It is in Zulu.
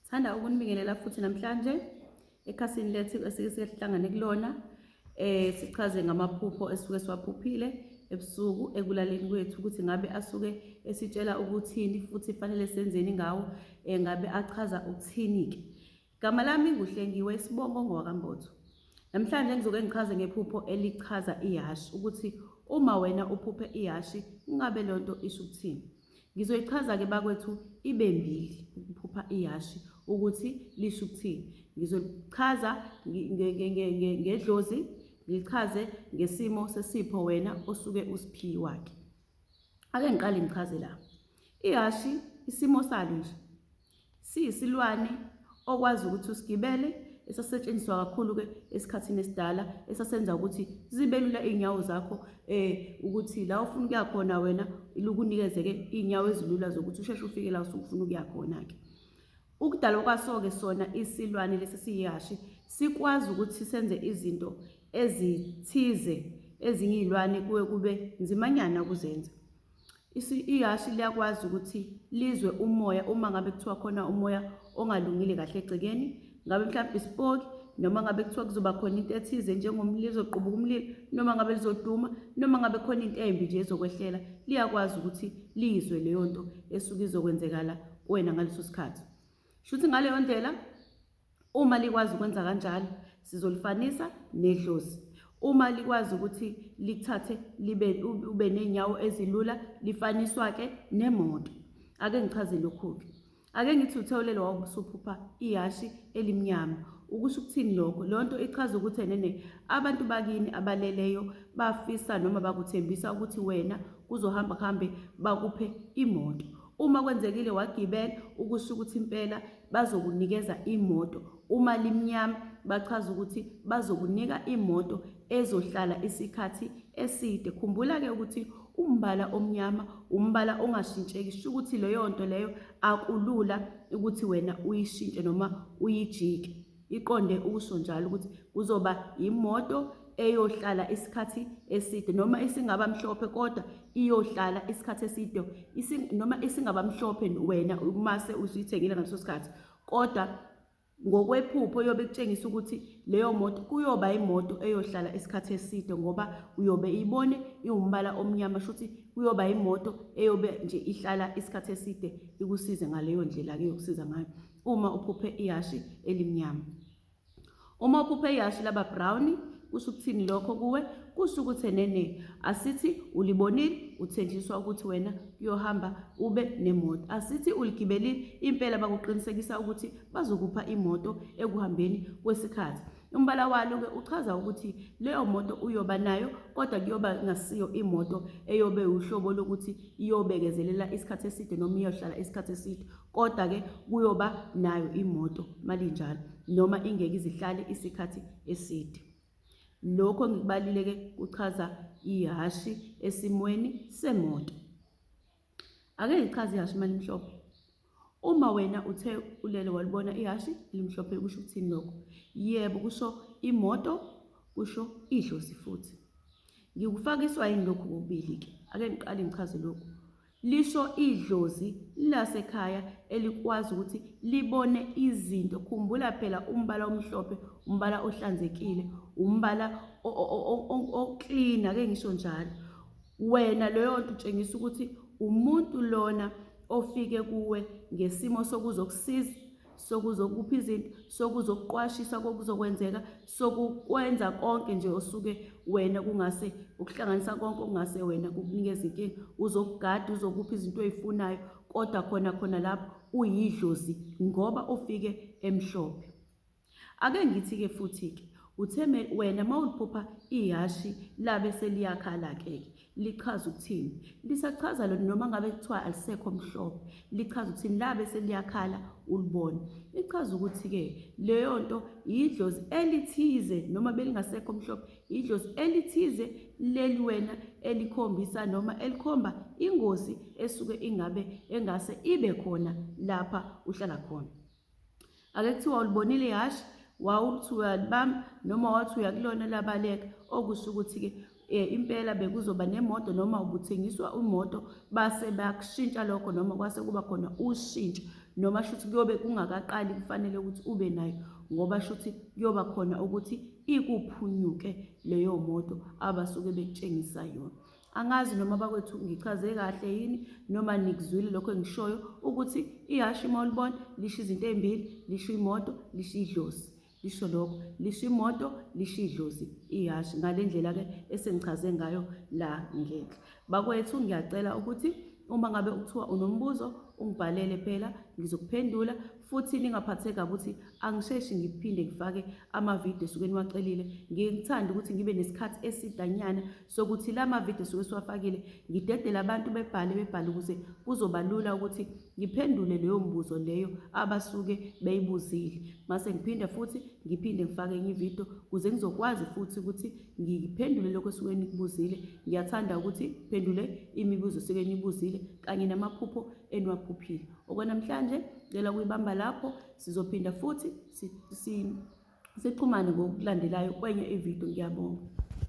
Sithanda ukunibingelela futhi namhlanje ekhasini lethu esike sihlangane kulona eh sichaze ngamaphupho esuke siwaphuphile ebusuku ekulaleni kwethu ukuthi ngabe asuke esitshela ukuthini futhi fanele senzeni ngawo eh, ngabe achaza ukuthini ke Gama lami nguhlengiwe isibongo ngowakambozo Namhlanje ngizoke ngichaze ngephupho elichaza ihashi ukuthi uma wena uphuphe ihashi ngabe lonto isho ukuthini Ngizoyichaza-ke bakwethu ibe mbili ukuphupha ihhashi ukuthi lisho ukuthini. Ngizolichaza ngedlozi, ngilichaze ngesimo sesipho wena osuke usiphiwa-ke. Ake ngiqale ngichaze la. Ihhashi isimo salo nje Siyisilwane okwazi ukuthi usigibele esasetshenziswa kakhulu-ke esikhathini esidala esasenza ukuthi zibe lula iy'nyawo zakho um ukuthi la ufuna ukuya khona wena lukunikeze-ke iy'nyawo ezilula zokuthi usheshe ufike la usuke ufuna ukuya khona-ke ukudalwa kwaso-ke sona isilwane lesi siyihashe sikwazi ukuthi senze izinto ezithize ezinye iy'lwane kuwe kube nzimanyana ukuzenza Ihhashi liyakwazi ukuthi lizwe umoya uma ngabe kuthiwa khona umoya ongalungile kahle egcekeni, ngabe mhlawumbe isipoki noma ngabe kuthiwa kuzoba khona into ethize njengomlilo ezoqubuka umlilo noma ngabe lizoduma noma ngabe khona into embi nje ezokwehlela, liyakwazi ukuthi lizwe leyo nto esuke izokwenzekala kuwena ngaleso sikhathi. Shuthi ngaleyo ndlela Uma likwazi ukwenza kanjalo, sizolifanisa nedlozi. Uma likwazi ukuthi likuthathe libe ube ney'nyawo ezilula, lifaniswa-ke nemoto. Ake ngichaze lokhu-ke. Ake ngithi uThewulele wawusuphupha ihashi elimnyama. Ukusho ukuthini lokho? Leyo nto ichaza ukuthi enene abantu bakini abaleleyo bafisa noma bakuthembisa ukuthi wena kuzohamba kuhambe bakuphe imoto. Uma kwenzekile wagibela ukusho ukuthi impela bazokunikeza imoto uma limnyama bachaza ukuthi bazokunika imoto ezohlala isikhathi eside khumbula ke ukuthi umbala omnyama umbala ongashintsheki sho ukuthi leyo nto leyo akulula ukuthi wena uyishintshe noma uyijike iqonde ukusho njalo ukuthi kuzoba imoto eyohlala isikhathi eside noma isingaba mhlophe kodwa iyohlala isikhathi eside noma isingaba mhlophe wena umase usuyithengile ngaleso sikhathi kodwa ngokwephupho yobe kutshengisa ukuthi leyo moto kuyoba imoto eyohlala isikhathi eside ngoba uyobe ibone iwumbala omnyama shuthi kuyoba imoto eyobe nje ihlala isikhathi eside ikusize ngaleyo ndlela ke yokusiza ngayo uma uphuphe ihhashi elimnyama uma uphuphe ihhashi laba brown kusho ukuthini lokho kuwe kusho ukuthi enene asithi ulibonile uthenjiswa ukuthi wena kuyohamba ube nemoto asithi uligibelile impela bakuqinisekisa ukuthi bazokupha imoto ekuhambeni kwesikhathi Umbala walo-ke uchaza ukuthi leyo moto uyoba nayo kodwa kuyoba ngasiyo imoto eyobe uhlobo lokuthi iyobekezelela isikhathi eside noma iyohlala isikhathi eside kodwa-ke kuyoba nayo imoto malinjalo noma ingeke izihlale isikhathi eside lokho ngikubalile-ke kuchaza ihhashi esimweni semoto ake ngichaze ihhashi uma limhlophe uma wena uthe ulele walibona ihhashi elimhlophe kusho ukuthini lokho yebo kusho imoto kusho idlozi futhi ngikufakiswa yini lokhu kokubili-ke ake ngiqale ngichaze lokhu lisho idlozi lasekhaya elikwazi ukuthi libone izinto khumbula phela umbala omhlophe umbala ohlanzekile umbala oklina ke ngisho njalo Wena leyo nto utshengisa ukuthi umuntu lona ofike kuwe ngesimo sokuzokusiza sokuzokupha izinto sokuzokuqwashisa kokuzokwenzeka sokukwenza konke nje osuke wena kungase ukuhlanganisa konke okungase wena kukunikeza inkinga uzokugada uzokupha izinto oyifunayo kodwa khona khona lapho uyidlozi ngoba ufike emhlophe Ake ngithi-ke futhi-ke uthe wena uma uliphupha ihhashi labe seliyakhala-ke lichaza ukuthini lisachaza lona noma ngabe kuthiwa alisekho mhlophe lichaza ukuthini labe seliyakhala ulibona lichaza ukuthi-ke leyo nto yidlozi elithize noma belingasekho mhlophe yidlozi elithize leli wena elikhombisa noma elikhomba ingozi esuke ingabe engase ibe khona lapha uhlala khona Ake kuthiwa ulibonile ihhashi wawuthi uyalibamba noma wathi uyakulona labaleka okusho ukuthi-ke um impela bekuzoba nemoto noma ubuthengiswa imoto base bakushintsha lokho noma kwase kuba khona ushintsho noma shuthi kuyobe kungakaqali kufanele ukuthi ube nayo ngoba shuthi kuyoba khona ukuthi ikuphunyuke leyo moto abasuke bekutshengisa yona angazi noma bakwethu ngichaze kahle yini noma nikuzwile lokho engishoyo ukuthi ihhashi uma ulibona lisho izinto ey'mbili lisho imoto lisho idlozi lisho lokho lisho imoto lisho idlozi ihhashi ngale ndlela-ke esengichaze ngayo la ngenhla bakwethu ngiyacela ukuthi uma ngabe kuthiwa unombuzo ungibhalele phela ngizokuphendula futhi ningaphatheka ukuthi angisheshi ngiphinde ngifake amavidiyo esuke niwacelile ngikuthanda ukuthi ngibe nesikhathi esidanyana sokuthi la mavidiyo suke siwafakile ngidedele abantu bebhale bebhale ukuze kuzoba lula ukuthi ngiphendule leyo mbuzo leyo abasuke beyibuzile mase ngiphinde futhi ngiphinde ngifake enye ividiyo ukuze ngizokwazi futhi ukuthi ngiphendule lokho esuke nikubuzile ngiyathanda ukuthi phendule imibuzo esuke nibuzile kanye namaphupho eniwaphuphile okwanamhlanje ngicela ukuyibamba lapho sizophinda futhi sixhumane ngokulandelayo kwenye ividiyo ngiyabonga